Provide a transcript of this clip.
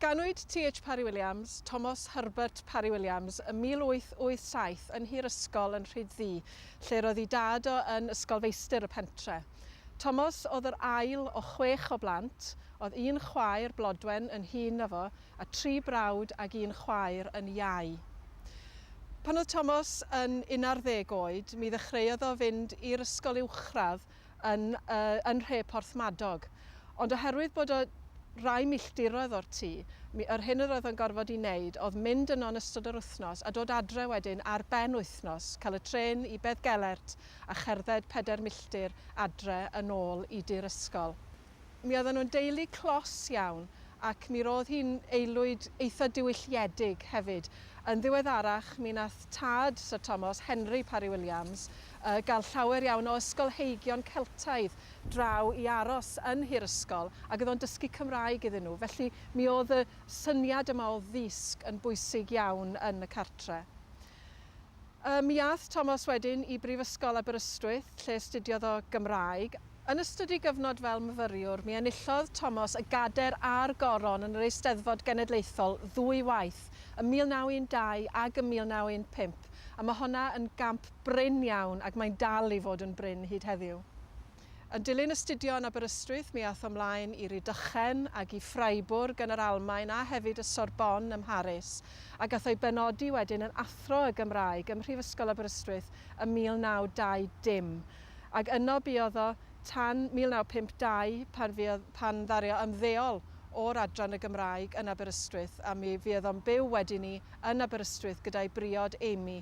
Ganwyd TH Parry-Williams, Thomas Herbert Parry-Williams, ym 1887 yn Nhŷ'r Ysgol yn Rhyd-ddu, lle'r oedd ei dad o yn ysgolfeistr y pentre. Thomas oedd yr ail o chwech o blant, oedd un chwaer, Blodwen, yn hŷn na fo, a tri brawd ag un chwaer yn iau. Pan oedd Thomas yn unarddeg oed, mi ddechreuodd o fynd i'r ysgol uwchradd yn yn nhre Porthmadog, ond oherwydd bod o rai milltiroedd o'r tŷ, mi yr hyn yr oedd o'n gorfod i neud o'dd mynd yno yn ystod yr wythnos a dod adre wedyn ar ben wythnos, cael y trên i Beddgelert a cherdded peder milltir adre yn ôl i dŷ'r ysgol. Mi oedden nhw'n deulu clos iawn ac mi roedd hi'n aelwyd eitha' diwylliedig hefyd. Yn ddiweddarach mi nath tad Syr Tomos, Henry Parry-Williams, yy gael llawer iawn o ysgolheigion Celtaidd draw i aros yn nhŷ'r ysgol ac oedd o'n dysgu Cymraeg iddyn nhw. Felly mi oedd y syniad yma o ddisg yn bwysig iawn yn y cartre'. Ym mi aeth Tomos wedyn i Brifysgol Aberystwyth lle astudiodd o Gymraeg. Yn ystod ei gyfnod fel myfyriwr, mi enillodd Tomos y Gader a'r Goron yn yr Eisteddfod Genedlaethol ddwy waith, ym 1912 ag ym 1915, a ma' honna yn gamp brin iawn ac mae'n dal i fod yn brin hyd heddiw. Yn dilyn astudio yn Aberystwyth mi aeth o mlaen i Rydychen ag i Freiburg yn yr Almaen a hefyd y Sorbonne ym Mharis a gath o'i benodi wedyn yn Athro y Gymraeg ym Mhrifysgol Aberystwyth ym 1920 ag yno buodd o tan 1952 pan fuodd pan ddaru o ymddeol o'r Adran y Gymraeg yn Aberystwyth a mi fuodd o'n byw wedyn 'ny yn Aberystwyth gyda'i briod Amy